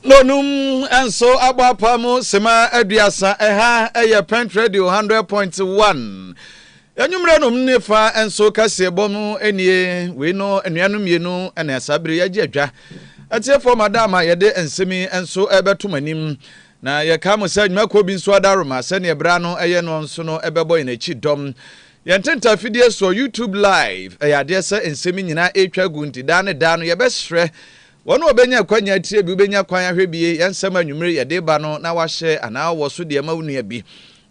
Lonom nso abɔ apaa mu sima aduasa. Ɛha yɛ Pent Radio 100.1. Anwummerɛ nom ne fa nso kaseɛ bɔ mu nie wei no nnuanom mmienu na saa bere yɛgye adwa atiefoɔ ma da ma yɛde nsɛm yi nso ɛbɛtom anim na yɛka mo sɛ nnwumakuo bi nso adaroma sɛdeɛ berɛ no ɛyɛ no nso no ɛbɛbɔ yɛn akyi dɔm yɛn tenta fidie soɔ youtube live ɛyɛ adeɛ sɛ nsɛm nyinaa ɛtwa gu nti daa ne daa no yɛbɛsrɛ Wɔn a wɔbɛnya akwanya atie bi wobɛnya kwan ahwɛ bi yɛn nsɛm a anwummere yɛde reba no na wɔahyɛ anaa wɔ so deɛ ma wo nua bi.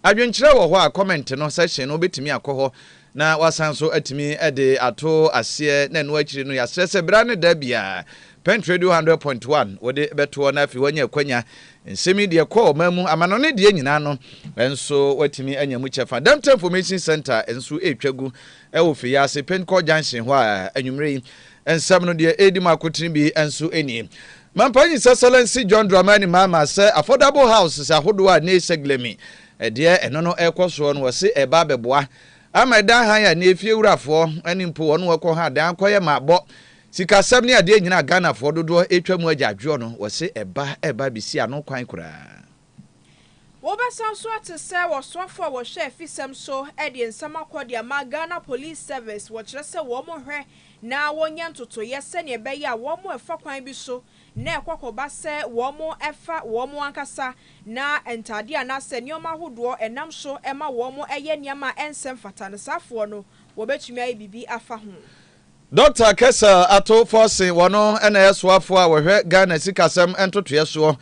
Adwenkyerɛ wɔ hɔ a comment no section no wobɛtumi akɔ hɔ na woasan nso atumi de ato aseɛ na ɛno akyiri no yɛasrɛ sɛ berɛ a ne da biara Pent Radio 100.1 wode bɛtoɔ na afei woanya akwanya nsɛm yi deɛ kɔɔ ɔman mu amanɔne deɛ nyinaa no nso woatumi anya mu kyɛfa. Delta Information Center nso ɛretwa gu ɛwɔ Fiase Penkɔ Junction hɔ a anwummere yi Nsɛm no deɛ ɛredi mu akotene bi nso nie. Mampa Nyi Sasalansi John Dramani Mahama sɛ affordable houses ahodoɔ a Ney Seglemi deɛ ɛno no ɛrekɔ soɔ no ɔse ɛreba abɛboa ama ɛdan hann a nnɛ efiewurafoɔ ne mpo wɔn wɔkɔ ha dan akɔyɛ ma abɔ sikasɛm ne adeɛ nyinaa a Ghanafoɔ dodoɔ ɛretwa mu agya adwoɔ no ɔse ɛba ɛreba abɛsi ano kwan koraa. Wobɛsan nso ate sɛ wɔsoafo a wɔhwɛ afisɛm so de nsɛm akɔ de ama Ghana Police Service wɔkyerɛ sɛ wɔnhwɛ na wɔnyɛ ntotoeɛ sɛnea ɛbɛyɛ a wɔn ɛfa kwan bi so na ɛkɔ akɔba sɛ wɔn ɛfa wɔn ankasa na ntadeɛ anaasɛ nneɛma ahodoɔ ɛnam so ɛma wɔn ɛyɛ nneɛma a ɛnsɛ mfata no saafoɔ no wɔbɛtumi ayɛ biribi afa ho. Dɔkta Kessel ato fɔ se wɔno na ɛyɛ soafoɔ a wɔhwɛ Ghana sikasɛm ntotoeɛ soɔ.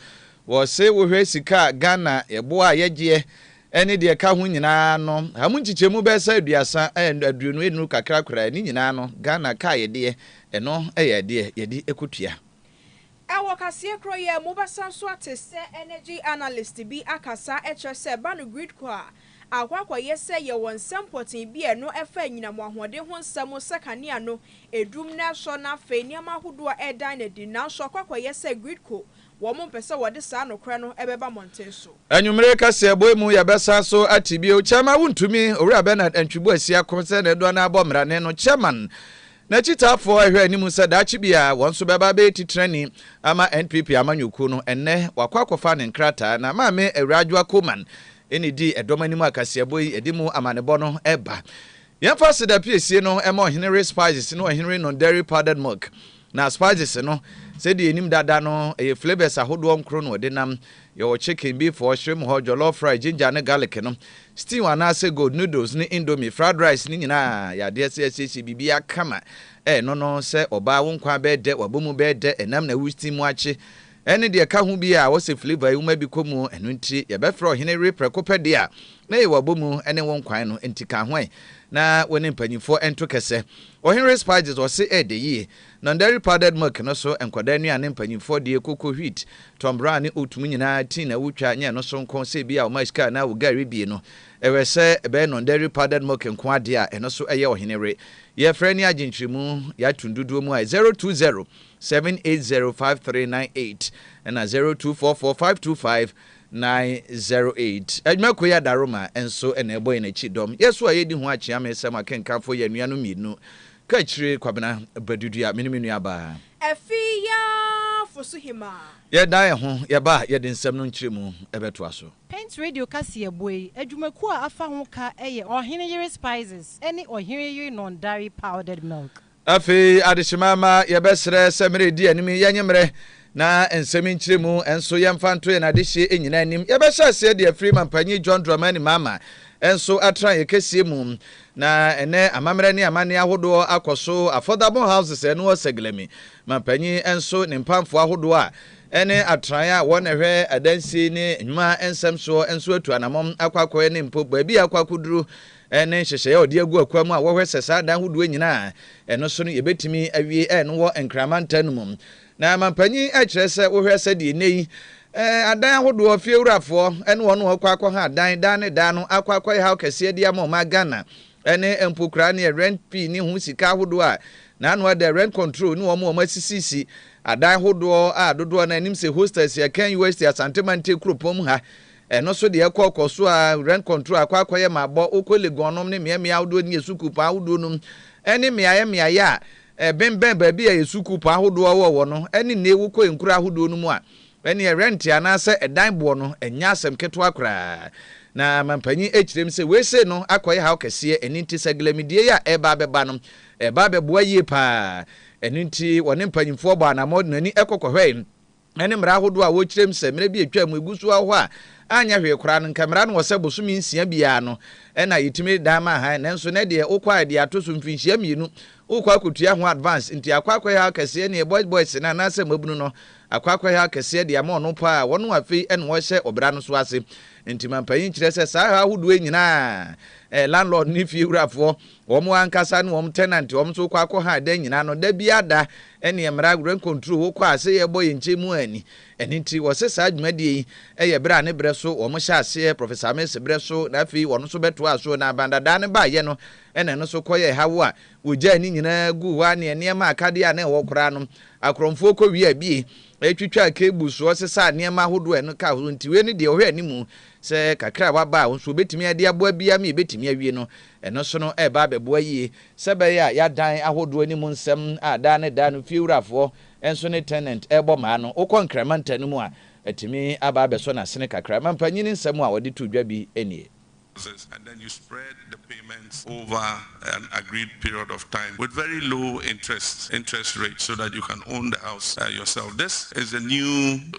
Wɔse wohwɛ sika a Ghana yɛboa a yɛgyeɛ ɛne deɛ ɛka ho nyinaa no a mu nkyekyɛmu bɛyɛ sɛ aduasa and aduonu nnuru kakra koraa ne nyinaa no Ghana ka a yɛdeɛ ɛno yɛ adeɛ yɛde ɛkɔtua. Ɛwɔ kaseɛ korɔ yi a mu bɛsa nso ate sɛ energy analyst bi akasa kyerɛ sɛ ba no GridCo a akɔ akɔyɛ sɛ yɛwɔ nsɛm pɔtee bi a ɛno ɛfa anyinam ahoɔden ho nsɛm sɛ kanea no ɛdum na ɛsɔ na afei nneɛma ahodoɔ a ɛredan no adi nanso akɔ akɔyɛ sɛ GridCo wɔn mpɛ sɛ wɔde saa nokorɛ no ɛbɛba mmɔnten so. Anwummere kaseɛ bɔ yi mu yɛbɛsan so ate bio Kyɛrma Wontumi, Owura Bernard Antwi Boasiako sɛ ne dodoɔ no ara bɔ mmarane no Kyɛrman N'akyitaafo rehwɛ anim sɛ daakye bi a wɔn nso bɛba abɛyɛ titrani ama NPP amanyɔkuo no, ɛnnɛ wakɔ akɔfa ne nkrataa na Maame Awuraa Adwoa Coleman na edii ɛdɔm anim a kaseɛbɔ yi de mu amanebɔ no reba. Yɛmfa aseda piesie no mma Ɔhene Ray Spices ne Ɔhene Ray Non-Dairy Powdered Milk. Na spices no, sɛdeɛ yɛnim dada no, ɛyɛ flavours ahodoɔ nkron na wɔde nam. Yɛ wo chicken, beef or shrimp hɔ jollof rice, ginger ne garlic no, stew anaasɛ gold, noodles ne indomie, fried rice ne nyinaa yɛ adeɛ sɛ yɛasiesie biribiara kama ɛno no sɛ ɔbaa wo nkwa bɛyɛ dɛ, w'abomu bɛyɛ dɛ, ɛnam na wo steam akye ɛne deɛ ɛka ho biara a wɔsɛ flavour yi woma bi kɔ mu ɛno nti yɛbɛfrɛ ɔhene we prɛko pɛ deɛ a na ɛyɛ w'abomu ne wo nkwan no nti ka ho ɛ na wo ne mpanyinfoɔ nto kɛsɛ. Ɔhene we spices ɔse ɛyɛ dɛ yie Na dairy powdered milk no so nkwadaa nnuane mpanyimfoɔ deɛ koko wheat, tɔmbraa ne oat mu nyinaa tea na wotwa nyɛ ɛno so nko sɛ ebia ɔma sika anaa wo gari bie no ɛwɛ sɛ ɛbɛyɛ non dairy powdered milk nko adeɛ a ɛno so ɛyɛ ɔhene were yɛfrɛ ne agye nkyerɛmu yɛato dodoɔ mu a 020 7805398 ɛna 02445250908 adwuma koyi adaroma nso ɛna ɛbɔ yɛn akyi dɔm yɛ so a yɛdi ho akyea mesɛm akenkanfo yɛ anuanom mmienu Kaakyire Kwabena Bɛdudua me ne me nua baa. Ɛfi yaa fo so hemaa. Yɛ dan yɛ ho yɛ ba yɛ de nsɛm no nkyerɛ mu bɛ toa so. Paint Radio kaseɛbɔ yi adwumakuo a afa ho ka yɛ Ɔhene Yere Spices ne Ɔhene Yere Nɔndare Powdered Milk. Afei adehyema ma yɛbɛsrɛ sɛ mmerɛ ɛdi anim yi yɛnye mmerɛ Na nsɛm nkyerɛmu nso yɛmfa nto yɛn adehyeɛ nyinaa anim. Yɛbɛhyɛ aseɛ de afiri Mampanyin John Dramani Mahama nso atenaeɛ kɛseɛ mu. Na ɛnnɛ amammerɛ ne amanneɛ ahodoɔ akɔ so, affordable houses a ɛno wɔ Saglami, Mampanyin nso ne mpamfoɔ ahodoɔ a ɛne atenaeɛ a wɔn na ɛhwɛ adansie ne nnwuma nsɛm soɔ nso atu anammɔn akɔ akɔyɛ ne mpo baabi a akɔ akɔduru ne nhyehyɛeɛ a wɔde agu akwan mu a wɔhwɛ sɛ saa adan ahodoɔ nyinaa a ɛno so no yɛbɛtumi awie a ɛno wɔ Nkran mantam no mu. Na mampanyin kyerɛ sɛ wohwɛ sɛdeɛ nnɛyi adan ahodoɔ fiewurafoɔ ne wɔn rekɔ akɔha adan daa ne daa no akɔ akɔyɛ haw kɛseɛ de ama ɔman Ghana ne mpokuraa neɛ rent fee ne ho sika ahodoɔ a n'ano adɛ rent control ne wɔn a wɔasisisi adan ahodoɔ a dodoɔ no anim sɛ hostels yɛ Akan UST Asante Mante kuropɔn mu ha ɛno so deɛ ɛkɔ kɔ so a rent control akɔ akɔyɛ ma abɔ wokɔ Legon nom ne mmeammea ahodoɔ ne yɛ sukuupɔn ahodoɔ nom ne mmeaeɛ mmeaeɛ a ɛbembɛn baabi a yɛ sukuu pɔ ahodoɔ a wowɔ wɔ no ɛne nee wo kɔ nkuro ahodoɔ no mu a ɛneɛ rɛnte anaa sɛ ɛdan boɔ no ɛnyɛ asɛm ketewa koraa na mampanyin ɛkyirem sɛ wei sei no akɔyɛ haw kɛseɛ ɛno nti sɛ glamidie yi a ɛreba abɛba no ɛba abɛboa yie paa ɛno nti wɔne mpanyinfoɔ bɔɔ anamɔ de n'ani ɛkɔ kɔhwɛɛ ne mmara ahodoɔ a wɔkyerɛm sɛ mmerɛ bi a ɛtwaam mu ɛgu so wɔ hɔ a anyɛ hwee koraa no, nka mmara no wɔ sɛ bosome nsia biara no na yɛtumi dan ma hann, nanso nɛ deɛ wokɔ a ɛde ato so mfinhyia mmienu wokɔ akɔtua ho advance, nti akɔ akɔhɛ akɛseɛ neɛ boys boys no anaasɛ mmabunu no akɔ akɔhɛ akɛseɛ de ama ɔno paa, wɔn afei na wɔhyɛ ɔbra no so ase. Nti mampanyin kyerɛ sɛ saa hɛ ahodoɔ yi nyinaa eh, landlord ne fiewurafoɔ Wɔn ankasa ne wɔn tenant wɔn nso kɔ akɔ ha da nyina no da bia da ɛneɛ mmra rent control wo kɔ a se yɛbɔ yɛn nkyɛ mu anni ɛno nti wɔ se saa dwumadie yi yɛ berɛ a ne berɛ so wɔn hyɛ aseɛ Professor Mills berɛ so na afei wɔn nso bɛtoaa so na Bandadaa no baayɛ no ɛna ɛno nso kɔyɛɛ ha wo a wɔgyae ne nyinaa guu hɔ a ne nneɛma akadeɛ a na ɛwɔ koraa no akorɔmfoɔ kɔ wie a bie ɛtwitwaa cable so ɔsesaa nneɛma ahodoɔ a ɛno ka ho nti wei ne deɛ ɔhwɛ animu sɛ kakra a waba a nso wɔbɛtumi ade aboa bia me yɛbɛtumi awie no Ɛno nso no reba abɛboa yie sɛ ɛbɛyɛ a yɛadan ahodoɔ anim nsɛm a daa ne daa no fiewurafoɔ nso ne tenant rebɔ mmaa no. Wokɔ Nkran mantam no mu a, atumi aba abɛsɔ n'asene kakra. Mampanyin nsɛm a wɔde too dwa bi nie.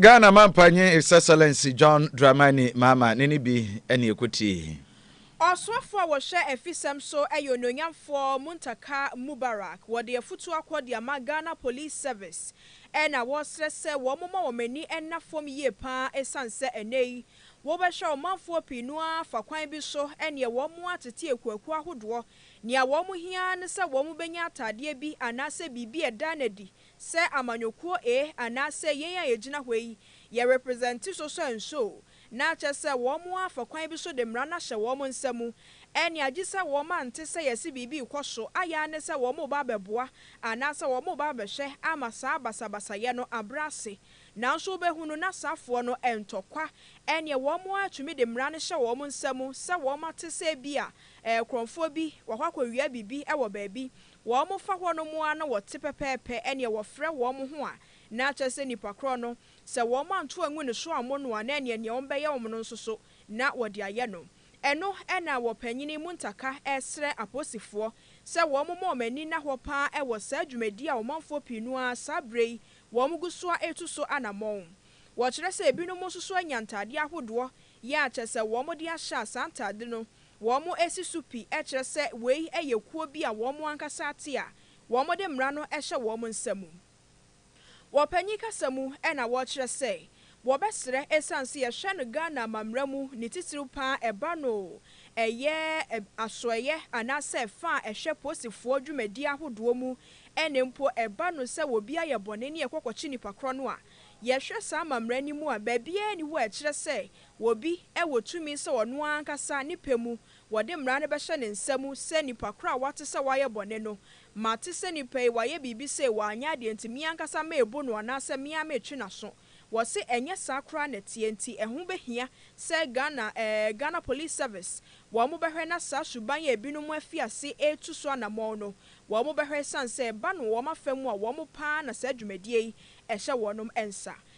Ghana Mampanyin His Excellency John Dramani Mahama ne ne bi ne ɛkɔtiee. Ɔsoafoɔ a wɔhwɛ afisɛm so yɛ Onuonyamfoɔ Muntaka Mubarak. Wɔde afutuo akɔ de ama Ghana Police Service na wɔresrɛ sɛ wɔmma wɔn ani nna fam yie pa ara ɛsiane sɛ ɛnnɛ yi wobɛhwɛ a ɔmanfoɔ pii no ara fa kwan bi so neɛ wɔn atete akuakuo ahodoɔ. Nea wɔn hia ara ne sɛ wɔbɛnya ataadeɛ bi anaasɛ biribi a ɛda no adi Sɛ amanyɔkuo ee anaa sɛ yɛn a yɛgyina hɔ yi yɛ represente so so nso o, na akyɛ sɛ wɔn ara fa kwan bi so de mmara no ahyɛ wɔn nsa mu. Ɛnne agye sɛ wɔn ante sɛ yɛse biribi rekɔ so, ayɛ ara ne sɛ wɔn reba abɛboa anaa sɛ wɔn reba abɛhwɛ ama saa basabasayɛ no abrɛ ase. Nanso wobɛhunu na saafoɔ no ntɔ kwa, ɛnneɛ wɔn ara tumi de mmara no hyɛ wɔn nsa mu sɛ wɔn ate sɛ ebia ɛɛ korɔmfoɔ bi wakɔ akɔwia biribi wɔ baabi, Wɔfa hɔnom ara na wɔte pɛpɛɛpɛ ɛneɛ wɔfrɛ wɔn ho a, na kyerɛ sɛ nipa korɔ no, sɛ wɔn anto angu ne so ammo no a, na ɛneɛ neɛ wɔn bɛyɛ wɔn no nso so na wɔde ayɛ no. Ɛno na wɔ panyini Muntaka ɛsrɛ aposifoɔ sɛ wɔn mmɔ wɔn ani nna hɔ pa ara wɔ saa dwumadie a ɔmanfoɔ pii no ara saa berɛ yi wɔn gu so ara retu so anamɔn. Wɔkyerɛ sɛ ebinom nso so anya ntaadeɛ ahodoɔ yɛ a kyerɛ sɛ wɔn de ahyɛ a saa ntaade no Wɔasi so pi kyerɛ sɛ wei yɛ kuo bi a wɔn ankasa ate a wɔde mmara no hyɛ wɔn nsa mu. Wɔ panyin kasa mu na wɔkyerɛ sɛ wɔbɛsrɛ ɛsiane sɛ yɛhwɛ no Ghana amammara mu ne titiriw pa ara ɛba no ɛyɛ asoɛeɛ anaasɛ ɛfa a ɛhwɛ posifoɔ dwumadie ahodoɔ mu ne mpo ɛba no sɛ obi ayɛ bɔne ne yɛkɔ kɔkye nipa korɔ no a yɛhwɛ saa amammara no mu a baabiara nni hɔ a ɛkyerɛ sɛ Wɔ bi wɔ tumi sɛ ɔno ara ankasa ne pɛ mu wɔde mmara no bɛhyɛ ne nsa mu sɛ nipa koro a wate sɛ wayɛ bɔne no, mate sɛ nipa yi wayɛ biribi sei wanyɛ adeɛ nti me ankasa merebu no anaasɛ me ara meretwe n'aso. Wɔse ɛnyɛ saa koraa na ɛteɛ nti ɛho bɛhia sɛ Ghana eh, Ghana Police Service wɔn bɛhwɛ na saa suban a binom afi ase retu so anamɔn no wɔn bɛhwɛ ɛsiane sɛ ɛba no wɔn afa mu a wɔn paa na saa dwumadie yi ɛhyɛ wɔnom nsa.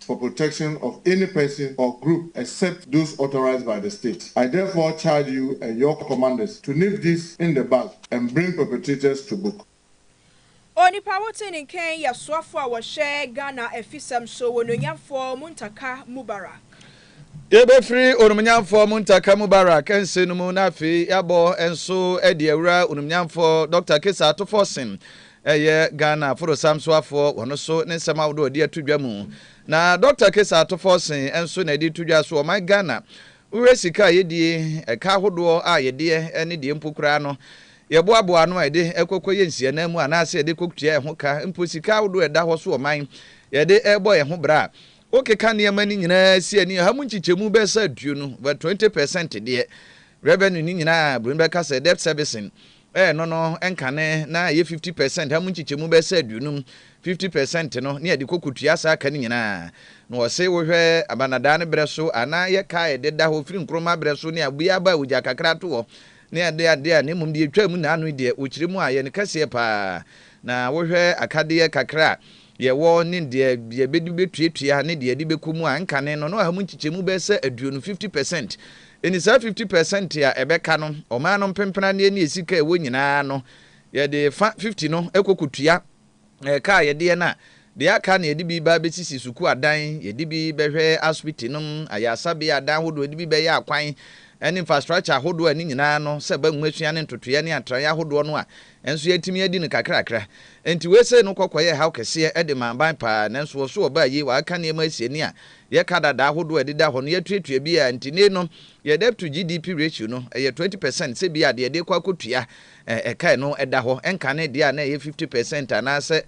for protection of any person or group except those authorized by the state. I therefore charge you and your commanders to nip this in the bud and bring perpetrators to book. Onipa a wote ne nken yɛ soafo a wɔhwɛ Ghana afisɛm so, Onuonyamfoɔ Muntaka Mubarak. Yɛbɛfiri Onumnyamfoɔ Muntaka Mubarak nse no mu na afei yɛabɔ nso de awura Onumnyamfoɔ Dɔkta Kesa Atuforsen yɛ Ghana Forosam Soafoɔ wɔ no so ne nsɛm ahodoɔ ɔde ato dwa mu. Na Dɔkta Kesa Atuforsen nso na yɛde reto dwa so ɔman Ghana wohwɛ sika a yɛdie, ɛka ahodoɔ a yɛdeɛ ne deɛ mpo koraa no yɛboaboa ano a yɛde ɛkɔkɔ yɛ nsianaa mu anaasɛ yɛde kɔtua ɛho ka mpo sika ahodoɔ ɛda hɔ so ɔman yɛde ɛbɔ yɛn ho bra Wokeka nneɛma no nyinaa si a, nea ha mu nkyekyɛmu bɛsa aduonu, but twenty percent deɛ, revenue no nyinaa a Buroni bɛka sɛ debt servicing, eh, no no nkane na ɛyɛ fifty percent, ha mu nkyekyɛmu bɛsa aduonum, fifty percent no, ne yɛde kɔ kɔtua saa ka no nyinaa. Na wɔse wohwɛ Abanadaa no berɛ so a, na yɛka a ɛde da hɔ firi Nkrumah berɛ so ne abuiɛ aba a ogya kakra to hɔ ne ade ade a, na mmom deɛ ɛtwaa mu nnaano yi deɛ, wɔkyerɛ mu a, ɛyɛ ne kɛseɛ pa ara. Na wohwɛ akadeɛ kakra a Deɛ ɛwɔ ne deɛ yɛbɛde bɛtuatua ne deɛ yɛde bɛkɔ mu a ɛnkane no, na ɔha mu nkyekyɛmu bɛyɛ sɛ aduonu, fifty percent. Enti saa fifty percent a ɛbɛka no, ɔman no mpempenadeɛ ne sika a ɛwɔ nyinaa no, yɛde fa fifty no kɔ kɔtua ɛka a yɛdeɛ no a, deɛ aka no yɛde bi ba abɛsisi sukuu adan, yɛde bi bɛhwɛ asopiti nom, ayaresabea adan ahodoɔ, yɛde bi bɛyɛ akwan ne infrastructure ahodoɔ a ne nyinaa no, sɛ ɛba nwomasua ne ntotoeɛ ne atraeɛ ahodoɔ no a, Nanso yɛatumi adi no kakrakra. Enti wei sei no kɔkɔ yɛ haw kɛseɛ de ma aban paa, nanso ɔso ɔbaa yi, wɔaka nneɛma asi ani a yɛka dada ahodoɔ a ɛdeda hɔ no yɛatuatua bi a nti nei no yɛ debt to GDP ratio no ɛyɛ 20 percent sɛ bia deɛ yɛde kɔ akɔtua ɛkae no ɛda hɔ ɛnkane deɛ a na ɛyɛ 50 percent anaasɛ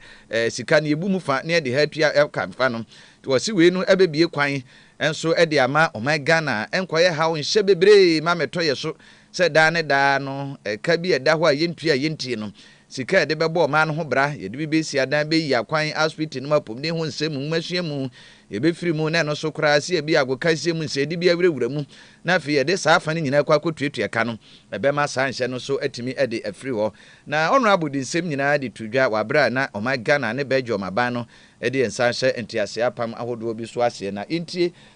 sika no yɛbu mu fa na yɛde ha atua ɛka fa no nti wɔse wei no ɛbɛbie kwan nso ɛde ama ɔman Ghana ɛnkɔyɛ haw nhyɛ bebree ma mɛtɔ yɛ so sɛ daa ne daa no ɛka bi a ɛda hɔ a yɛntua a yɛntie no, sika a yɛde bɛbɔ ɔman no ho bra, yɛde bi bɛsi adan, bɛyi akwan, asopiti nom, apomuden ho nsɛm, nwomasua mu, yɛbɛfiri mu, na ɛno so koraa sɛ ebia agokansie mu nsɛyɛde bi awurawura mu, na afei yɛde saa afa no nyinaa kɔ akɔtuatua ka no, ɛbɛma saa nhyɛ no so atumi de afiri hɔ. Na Honourable de nsɛm nyinaa de too dwa wɔ aberɛ a na ɔman Ghana ne Belgium aban no de yɛn nsa ahyɛ nteaseɛ apam ahodoɔ bi so aseɛ. Na yɛntie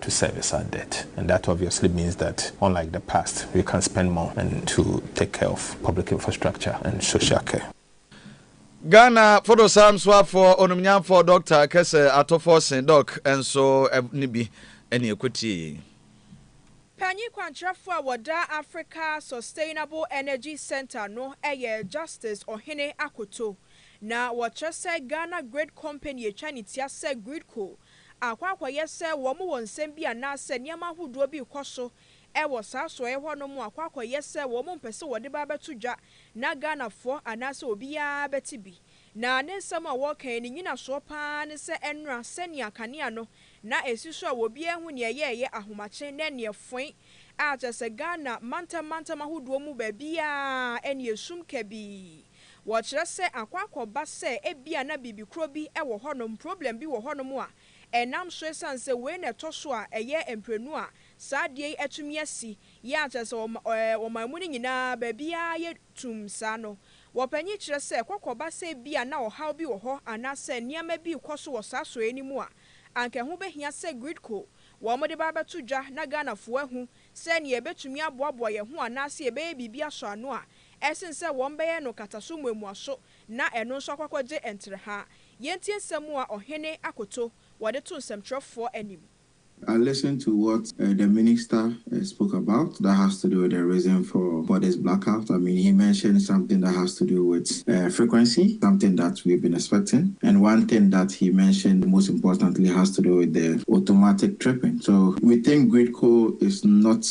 to service our debt and that obviously means that unlike the past we can spend more and to take care of public infrastructure and social care. Ghana fodosam soafoɔ onumnyamfoɔ Doctor Kɛsɛ Atofo se Doc nso ne bi ne ɛkɔtie yei. Panyin kwankyerɛfoɔ a wɔda Africa Sustainable Energy Centre no yɛ Justice Ohene Akoto, na wɔkyerɛ sɛ Ghana Grid Company atwa ne tia sɛ Gridco akɔ akɔyɛ sɛ wɔwɔ nsɛm bi anaasɛ nneɛma ahodoɔ bi rekɔ so wɔ saa soɔeɛ hɔ nom akɔ akɔyɛ sɛ wɔn mpɛ sɛ wɔde ba bɛto dwa na Ghanafoɔ anaasɛ obiara bɛte bi. Na ne nsɛm a wɔreka yi ne nyinasoɔ pa ara ne sɛ ɛnnora sɛnea kanea no na ɛsi so a obiara ahu nea ɛyɛɛyɛ ahomakye ne nea ɛfoe a kyerɛ sɛ Ghana mantam mantam ahodoɔ mu baabiara ɛnneɛ sum kabii Wɔkyerɛ sɛ akɔ akɔba sɛ ebia na biribi koro bi wɔ hɔnom, problem bi wɔ hɔnom a ɛnam so esiane sɛ wei na ɛtɔ so a ɛyɛ mprenu a saa adeɛ yi atumi asi, yɛ a kyerɛ sɛ ɔman mu no nyinaa baabiara yɛ tumm saa no. Wɔpanyin kyerɛ sɛ kɔ kɔba sɛ ebia na ɔhaw bi wɔ hɔ anaasɛ nneɛma bi rekɔ so wɔ saa sɔeɛ no mu a, anka ɛho bɛhia sɛ Gridco wɔde ba abɛto dwa na Ghanafoɔ ahu sɛdeɛ yɛbɛtumi aboaboa yɛn ho anaasɛ yɛbɛyɛ biribi asɔ ano a Ɛsen sɛ wɔbɛyɛ no nkataso mmuamuaso na ɛno nso akɔakɔgye ntrɛha. Yɛntie nsɛm a ɔhene akoto wɔde to nsɛmtwerɛfoɔ anim. I listened to what uh the minister uh spoke about that has to do with the reason for for this blackout. I mean he mentioned something that has to do with uh frequency, something that we've been expecting and one thing that he mentioned most importantly has to do with the automatic tripping. So we think Gridco is not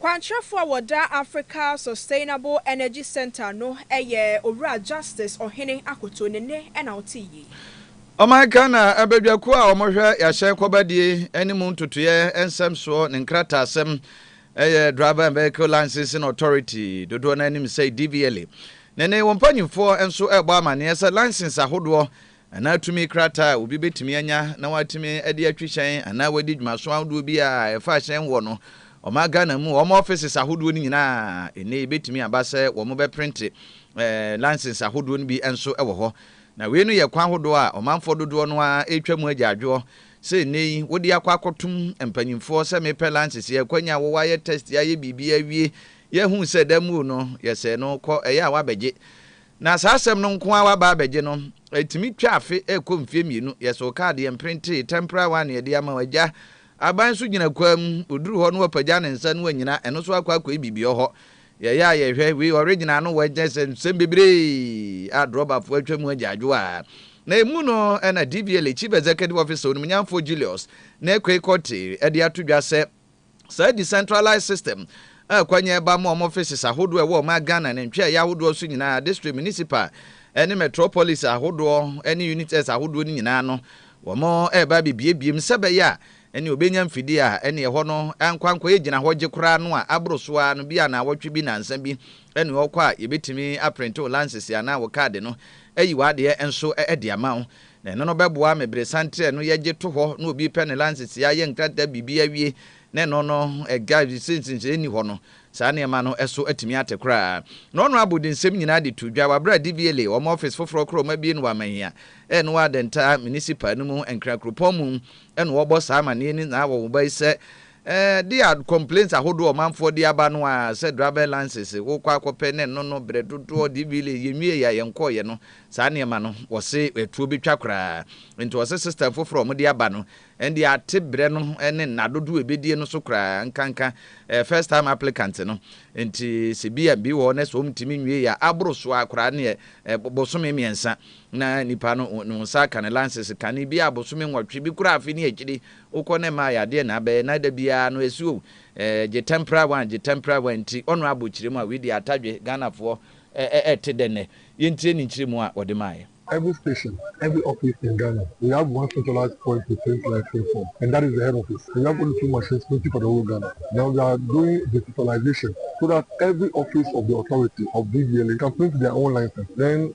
Kwankyerɛfo a wɔda Africa Sustainable Energy Centre no yɛ Owura Justice Ɔhene Akoto ne nne na wotee yei. Ɔman Ghana abadwakuo a wɔhwɛ yɛahyɛn kɔbadie ne mu ntotoeɛ nsɛm soɔ ne nkrataasɛm yɛ Driver and Vehicle Licensing Authority, dodoɔ no ara nim sɛ DVLA, ne ne wɔn mpanimfoɔ nso rebɔ amanneɛ sɛ license ahodoɔ anaa tumi krataa a obi betumi anya na watumi de atwi hyɛn anaa wadi dwumaso ahodoɔ bi a ɛfa hyɛn wɔ no, ɔman Ghana mu wɔn offices ahodoɔ no nyinaa nnɛ ebetumi aba sɛ wɔbɛprente license ahodoɔ no bi nso wɔ hɔ. Na wei no yɛ kwan hodoɔ a ɔmanfoɔ dodoɔ no ara retwa mu agyaadwoɔ sɛ nnɛ yi wode akɔ akɔtom mpanyimfoɔ sɛ mepɛ license, yɛakwanya wɔ wayɛ test ayɛ biribiara awie yɛahu sɛ da mmuo no yɛsɛɛ no kɔ ɛyɛ a wabɛgye Na saa asɛm no nko ara waba abɛgye no, ɛtumi twa afe ɛrekɔ mfeɛ mmienu, yɛ so kaade, yɛ mprintee, temporary one, yɛde ama wo, agya, aban nso gyina kwaa mu, ɔduru hɔ no wapagya ne nsa no wanyina, ɛno nso akɔ akɔyi biribi ɔhɔ. Yɛyɛ a yɛhwɛ, wei original no wɔ gyɛ sɛ nsɛm bebree a drɔbafoɔ atwa mu agyaadwoaa. Na ɛmu no ɛna DVLA Chief Executive Officer Onimnyamfoɔ Julius Nekoe Kortey de ato dwa sɛ, Saa decentralized system a akwannya reba ama wɔn offices ahodoɔ a ɛwɔ ɔman Ghana ne ntweaeɛ ahodoɔ so nyinaa, district, municipal ne metropolis ahodoɔ ne unites ahodoɔ no nyinaa no, wɔreba abɛbuebue mu sɛ ɛbɛyɛ a ɛneɛ wɔbɛnya mfidie a ɛneɛ ɛhɔ no nkɔ ankɔyɛ gyinahɔgye koraa no a aboro so ara no, bia naawɔtwe bi nansa bi ne ɔkɔ a yɛbɛtumi aprente wo lances anaa wo kaade no, ayi w'adeɛ nso de ama wo. Na ɛno no bɛboa me bere santerɛ no yɛgye to hɔ na obi repɛ ne lances yɛ ayɛ nkrataa biribi awie na ɛno no ɛga sɛ nsenhyɛɛ nni hɔ no saa nneɛma no ɛso atumi ate koraa. Na ɔno abɔ de nsɛm nyinaa de to dwa wɔ aberɛ a DVLA wɔn office foforɔ korɔ wɔabie no wɔ Amahia ɛɛ no wɔ Adenta Municipal no mu Nkran kuropɔn mu ɛna ɔrebɔ saa amaneɛ no nyinaa wɔ wɔn baisɛ Eh dea complaints ahodoɔ ɔmanfoɔ de aba no aa sɛ driver license wo kɔ akɔpɛ ne no no brɛ dodoɔ dvla yɛ nwie yɛ a yɛn kɔɔ yɛ no saa nneɛma no wɔ se atuo bɛ twa koraa nti wɔ se system foforɔ ɔmo de aba no ɛndeɛ ate brɛ no ne nna dodoɔ ɛbɛ die no so koraa nka nka eh first time applicant no nti se bi a bi wɔ hɔ ne sɛ ɔmo ntumi nwie yɛ a aboro so aa koraa neɛ eh bosome mmiɛnsa na nipa no no nsa aka ne license kane bi a bosome nwɔtwe bi koraa afe ne akyiri Wokɔ na ɛmma ayɛ adeɛ na abɛyɛ na da biara no ɛsi o eh, gye temporary one, gye temporary one nti ɔno abɔ kyire mu a wei deɛ atadwe Ghanafoɔ eh, eh, ɛte dɛ nnɛ? Yɛntie ne nkyerɛ mu a ɔde maaeɛ. Every station, every office in Ghana, we have one centralized point to print licensing form and that is the head office. We have only two machines printing for the whole Ghana. Now we are doing digitalization so that every office of the authority of BVLA can print their own license. Then.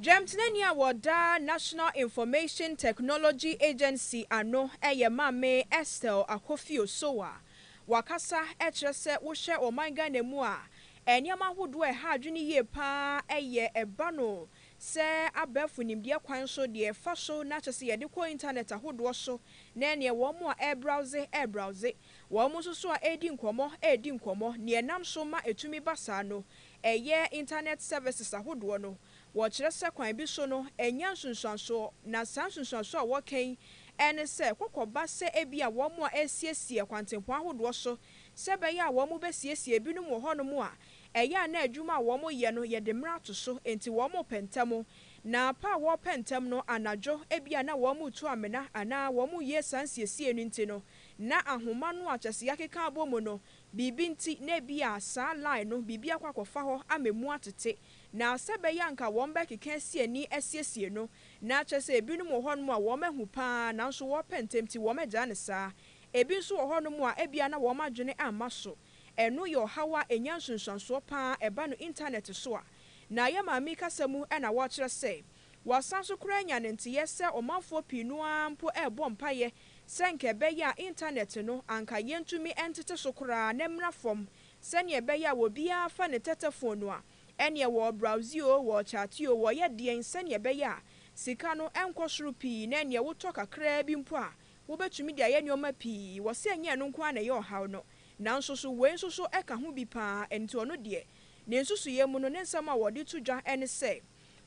Dwamtenani a ɔda National Information Technology Agency ano yɛ Maame Estelle Akofio-Sow a wakasa kyerɛ sɛ wohwɛ ɔman Ghana mu a, nneɛma ahodoɔ a ɛha adwene yie pa ara yɛ ɛba no sɛ abɛɛfo nimdeɛ kwan so, deɛ ɛfa so na kyerɛ sɛ yɛde kɔ intanɛt ahodoɔ so ne neɛ wɔn a ɛrebrowse rebrowse, wɔn nso so a ɛredi nkɔmmɔ redi nkɔmmɔ. Neɛ ɛnam so ma ɛtumi ba saa no ɛyɛ Internet services ahodoɔ no, wɔkyerɛ sɛ kwan bi so no ɛnyɛ nsunsuansoɔ, na saa nsunsuansoɔ a wɔka yi ne sɛ kɔkɔba sɛ ebia wɔn a ɛresiesie kwantempɔn ahodoɔ so sɛ ɛbɛyɛ a wɔn bɛsiesie ebinom wɔ hɔnom a ɛyɛ a na adwuma a wɔn yɛ no yɛde mmerɛ ato so enti wɔn repɛ ntɛm, na pɛ a wɔrepɛ ntɛm no anadwo ebia na wɔn retu amena anaa wɔn reyɛ saa nsiesiei no nti no na ahoma no a kyɛseɛ akeka abɔ mu no Biribi nti, na ebia saa line no biribi akɔ akɔfa hɔ ama emu atete, na sɛ ɛbɛyɛ a anka wɔbɛkeka asi ani asiesie no. Ná kyerɛ sɛ ebinom wɔ hɔnom a wɔahu pa ara nanso wɔrepɛ ntɛm nti wɔagyae no saa. Ebi nso wɔ hɔnom a ebia na wɔn adwene amma so. Ɛno yɛ ɔhaw a enya nsunsuansoɔ pa ara, ɛba no Intanɛt so a. Na yɛn maame kasa mu na wɔkyerɛ sɛ, Wɔasan nso koraa anya no nteyɛ sɛ ɔmanfoɔ pii no ara mpo rebɔ mpaeɛ sɛ anka ɛbɛyɛ a intanɛt no anka yɛntumi ntete so koraa na ɛmmra fam sɛdeɛ ɛbɛyɛ a obiara fa ne tɛtɛfon no a ɛneɛ wɔrebrowse oo, wɔrekyate oo, wɔreyɛ deɛn sɛdeɛ ɛbɛyɛ a sika no nkɔ soro pii na ɛneɛ wotɔ kakraa bi mpo a wobɛtumi de ayɛ nneɛma pii. Wɔ sɛ ɛnyɛ ɛno nko ara na ɛyɛ ɔhaw no nanso so wei nso so ka ho bi pa ara, ɛnti ɔno deɛ ne nsusuiɛ mu no ne nsɛm a wɔde to dwa ne sɛ,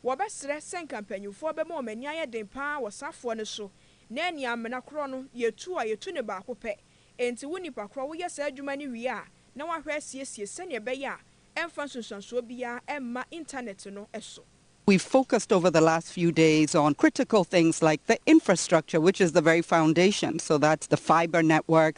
Wɔbɛsrɛ sɛ nka mpanyimfoɔ bɛma wɔn ani ayɛ den pa ara wɔ saa foɔ no so, na ɛnni amena korɔ no, yɛtu a, yɛtu no baako pɛ. Enti wo nipa korɔ, woyɛ saa adwuma no wie a, na woahwɛ asiesie sɛnea ɛbɛyɛ a ɛmfa nsunsuansoɔ biara mma intanɛt no so. We've focused over the last few days on critical things like the infrastructure which is the very foundation, so that's the fibre network,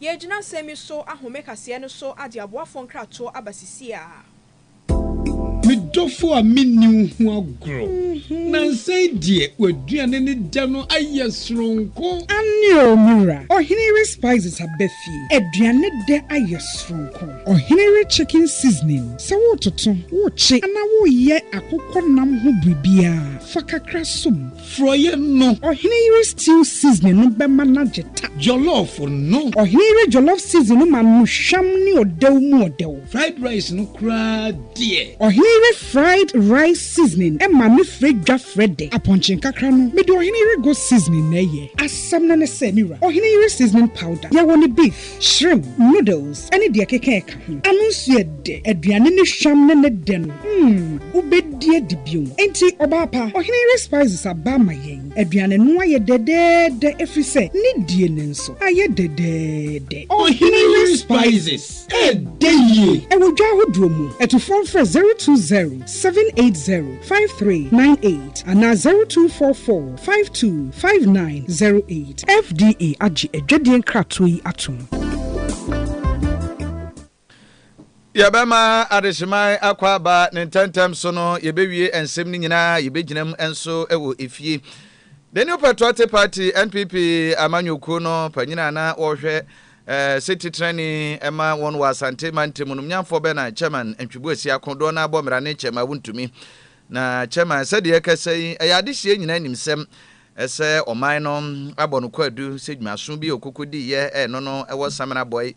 Yɛregyina asɛm yi so ahome kaseɛ no so ade aboafoɔ nkratoɔ aba sisiaa. Me dɔfo a menni wo ho agorɔ. Nansa yi deɛ w'aduane ne dɛ no ayɛ soronko. Aane oo me wura. Ɔhene yere spices aba fie. Aduane dɛ ayɛ soronko. Ɔhene yere chicken seasoning, sɛ wototo, wokye anaa woyɛ akokɔ nam ho biribiara, fa kakra som. Frɔeɛ no. Ɔhene yere stew seasoning no bɛma no agye ta. Jollof no. Ɔhene yere jollof seasoning no ma no hwam ne ɔdɛw mu ɔdɛw. Fried rice no koraa deɛ. Ɔhene yere fried rice seasoning ma no frɛ dwa frɛ dɛ. Apɔnkye nkakra no, mede ɔhene yere goat seasoning na ɛyɛ. Asɛm no ne sɛ, me wura, ɔhene yere seasoning powder, yɛwɔ no beef. Shrimp, noodles ne deɛ ɛkeka ɛka ho. Ano nso yɛ dɛ. Aduane no hwam ne ne dɛ no, mm, wobɛdi adi bio. Enti, ɔbaa pa, ɔhene yere spices aba ama yɛn. Aduane no ayɛ dɛdɛɛdɛ ɛfiri sɛ ne die no nso ayɛ dɛdɛɛdɛ. Ɔhene yere spices ɛdɛ yie. Ɛwɔ dwa ahodoɔ mu. Atufoɔ mfrɛ 020780. five three nine eight anaa zero two four four five two five nine zero eight. FDA agye adwadie nkratoɔ yi atom. Yɛbɛma adehyeman akɔ aba ne ntɛmntɛm so no, yɛbɛwie nsɛm no nyinaa, yɛbɛgyinam nso wɔ efie. The New Patriotic Party, NPP, amanyɔkuo no panyin a na wɔhwɛ Eh, se titran ni ɛma wɔn wɔ Asante mantam no, Mnyanfoɔ bɛ na Chairman Ntwebuasi ako, doɔ no ara bɔ mmara ne Chairman Wontumi. Na Chairman, sɛdeɛ yɛkasa yi, ɛyɛ adehyeɛ nyinaa nim sɛm, ɛsɛ ɔman no abɔ no kwaadu sɛ dwumaso bi a ɔkoko diiɛ ɛno no ɛwɔ Samena bɔe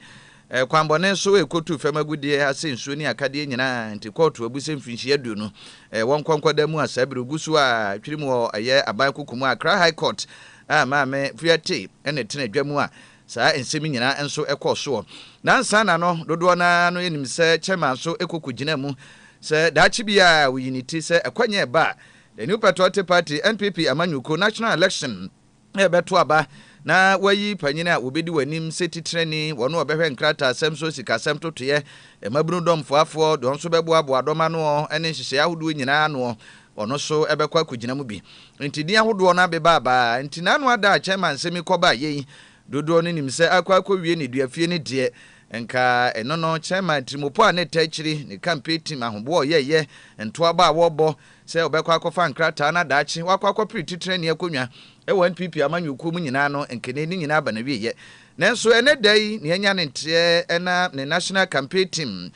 eh, kwanbɔne so ɛkɔtuu fam agudeɛ asɛ nsuo ne akadeɛ nyinaa, nti kɔɔto abu sɛ mfinhyia aduonu eh, wɔnkɔ nkɔda mu a saa biri gu so a twiri mu wɔ ɛyɛ aban koko mu a Accra High Court a Maame Fuya Tee ɛna ɛtena adwa mu a Saa nsɛm yi nyinaa nso kɔɔ soɔ nansa na no dodoɔ no ara no nim sɛ Chairman nso kɔ kɔgyinaa mu sɛ daakye biara ɔyi ne ti sɛ ɛkwannya ɛba a The New Patriotic Party, NPP, amanyɔkuo, National Election, rebɛto aba na wɔayi panin a wɔbɛdi wɔn anim sɛ titenani, wɔn a wɔbɛhwɛ nkrataasɛm so, sikasɛm totoeɛ, mmabunu dɔmfoafoɔ, deɛ wɔn nso bɛboaboa dɔm ano ne nhyehyɛeɛ ahodoɔ nyinaa ano. Ɔno so bɛkɔ akɔgyina mu bi. Nti din ahodoɔ no abe baabaa. Nti n'ano ada a Chairman nsɛm yi kɔ ba yɛ yi, dodoɔ no nim sɛ akɔ akɔwie ne dua fie no deɛ, nka ɛno no Chairman atirimupo a na ɛtaa akyiri, ne campaign team ahoboa a ɔyɛɛyɛ, ntoabɔ a wɔrebɔ sɛ ɔbɛkɔ akɔfa nkrataa na daakye wakɔ akɔpere titrani akonnwa wɔ NPP amanyɔkuo mu nyinaa no, nka ɛnɛ yi ne nyinaa aba n'awieɛ. Nanso ɛnɛ da yi nea anya ne nteɛ na ne National Campaign Team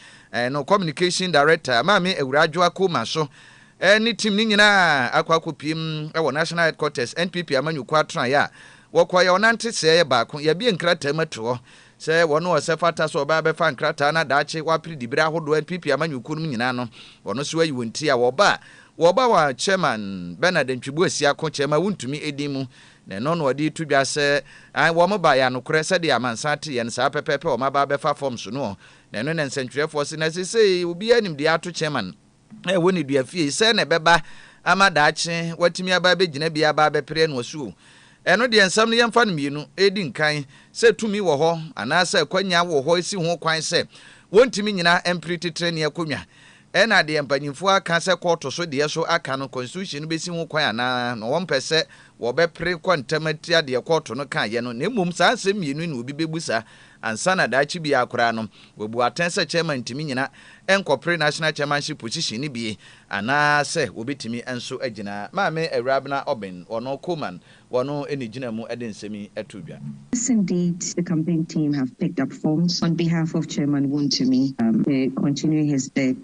no Communication Director, Maame Awuraa Adwoa Coleman so, ne team no nyinaa akɔ akɔpiem wɔ National Headquarters NPP amanyɔkuo atenaeɛ a wɔkɔeɛ ɔnante sɛɛ baako yɛabue nkrataa mu ato hɔ sɛ wɔn a ɔsɛ fata sɛ ɔbaa bɛfa nkrataa no a daakye wɔapere dibere ahodoɔ NPP amanyɔkuo no mu nyinaa no wɔn nso ayi wɔn ti a wɔba a wɔba wɔ Chairman Bernard Ntwibu Asiako Chairman Wontumi din mu na ɛno na ɔde reto dwa sɛ ae wɔn baeɛ anokorɛ sɛdeɛ amansan teeɛ no saa pɛpɛɛpɛ wɔn aba abɛfa forms no na ɛno na nsɛntwerɛfoɔ se na sesei obiara nim deɛ ato Chairman a ɛwɔ ne dua fie yi, sɛɛ na ɛbɛba ama daakye, watumi aba abɛgyina bi aba abɛpere ɛno asu o. Ɛno deɛ nsɛm no yɛmfa no mmienu ɛdi nkan, sɛ tumi wɔ hɔ anaa sɛ akwanya wɔ hɔ ɛsi ho kwan sɛ wɔntumi nyina mpere titire ne akonnwa. Ɛna deɛ mpanyinfoɔ aka sɛ kɔɔto so deɛ so aka no constitution no bɛsi ho kwan anaa na wɔmpɛ sɛ wɔbɛpere kɔ ntɛm atia deɛ kɔɔto no kaeɛ no na mmom saa nsɛm mmienu yi na obi bɛbusa Ansa na daakye biara koraa no, wabu atɛn sɛ chairman ntumi nnyina nkɔpere national chairmanship position no bi anaa sɛ wɔbɛtumi nso agyina. Maame Awurabena Obeng, ɔno Coleman, ɔno na ɛgyina mu de nsɛm yi too dwa. Yes indeed the campaign team have picked up forms on behalf of chairman Wontumi to continue his bid.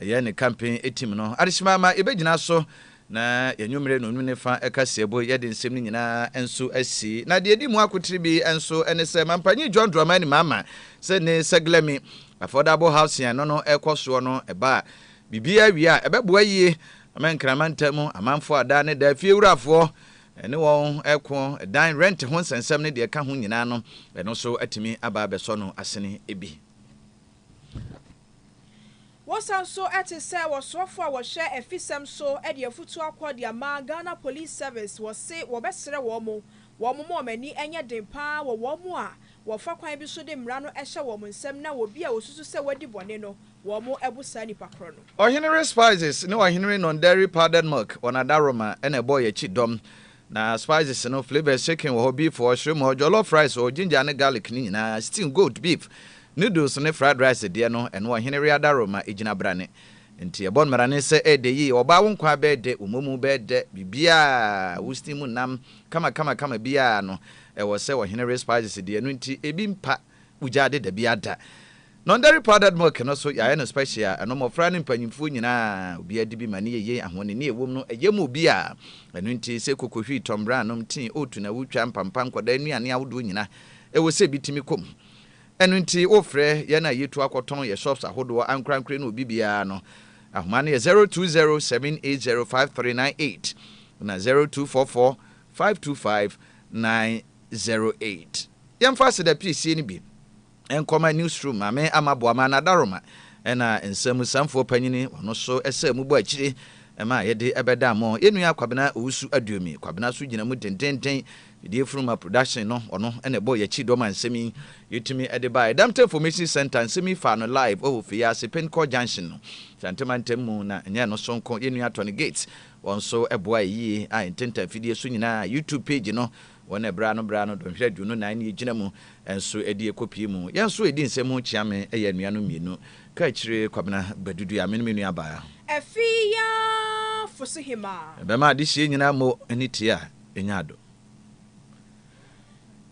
Ɛyɛ ne campaign team no adehyema ma yɛbɛgyina so na yɛanwummere no nwene fa ɛka seɛbo yɛde nsɛm no nyinaa nso asi. Na deɛ ɛdi mu akotire bi nso ne sɛ Mampanyin John Dramani Mahama sɛ ne Seglemi Affordable Housing a ɛno no rekɔ soɔ no ɛba a biribiara wie a ɛbɛboa yie ama Nkrama ntamu amanfoɔ a daa ne daa fie wurafoɔ ne wɔn reko dan rent ho nsɛnsɛm ne deɛ ɛka ho nyinaa no ɛno nso atumi aba abɛsɔ no asene bi. Wɔsan nso te sɛ wɔsoafo a wɔhwɛ afisɛm so de afutu akɔ de ama Ghana Police Service, wɔse wɔbɛsrɛ wɔn mo wɔn moma wɔn ani nyɛ den pa ara wɔ wɔn mo a wɔfa kwan bi so de mmara no hyɛ wɔn mo nsam na obi a wɔsusu sɛ wadi bɔne no wɔn mo bo saa nipa korɔ no. Ɔhenere Spices ne Ɔhenere Nonderi Powdered Milk wɔn adaroma na ɛbɔɔ yɛn akyi dɔm Na spices no, flavors chicken wɔ hɔ, beef wɔ hɔ, shrimp wɔ hɔ, jollof rice wɔ hɔ, ginger ne garlic no nyinaa, stew, goat, beef, noodles ne fried rice deɛ no, ɛno Ɔhene Readaro ma ɛgyina brane. Enti yɛbɔ mmarane sɛ ɛɛdɛ yie, ɔbaa wo nkwa bɛɛdɛ, wo momu bɛɛdɛ, biribiara, wo steam nam, kama kama kama biara no, ɛwɔ sɛ Ɔhene Re spices deɛ no nti ebi mpa. Bugya de dabi ada. Nɔndɛre powdered milk no so yɛayɛ no special a ɛno mmɔfra ne mpanyimfoɔ nyinaa obiara di bi ma ne yɛyɛ ahoɔnini a ɛwom no ɛyɛ ma obiara. Ɛno nti sɛ koko hwii tɔmbrɛ a nom tii oat na wotwa mpampa nkwadaa nnuane ahodoɔ nyina ɛwɔ sɛ bi tumi kɔ mu. Ɛno nti wofrɛ yɛn a yɛtu akɔtɔn yɛ shops ahodoɔ ankorankore no obi biara no ahoma no yɛ zero two zero seven eight zero five three nine eight na zero two four four five two five nine zero eight. Yɛmfa aseda piesie no bi nkɔma Newsroom Maame Ama Boamah no Adaroma ɛna Nsamusamfoɔ Panyini wɔn nso sɛ mobɔ akyire ma yɛde bɛda mo yɛn nua Kwabena Owusu Aduomi Kwabena nso gyina mu dendennden Fidie Funuma Production no ɔno na ɛbɔɔ yɛn akyi dɔm a nsɛm yi yɛtumi de baeɛ Damta Information Centre nsɛm yi faa no live wɔ Ofeyaase Penkor Junction no Santema ntam mu na ɛnyɛ ɛno nso nko yɛn nua Tony Gates Wɔn nso boae yie a ntentan fidie so nyinaa YouTube page no wɔn na ɛbraa no braa no dɔnhwere aduonu nan ne ɛgyina mu nso ɛde ɛkɔ pii mu. Yɛn nso ɛdi nsɛm mu kyea me ɛyɛ anuanom mmienu ka akyire Kwabena Badudua me ne me nua baa. Ɛfee ya Fosohemaa. Ɛbɛma adehyeɛ nyinaa mo ani teɛ a ɛnya adom.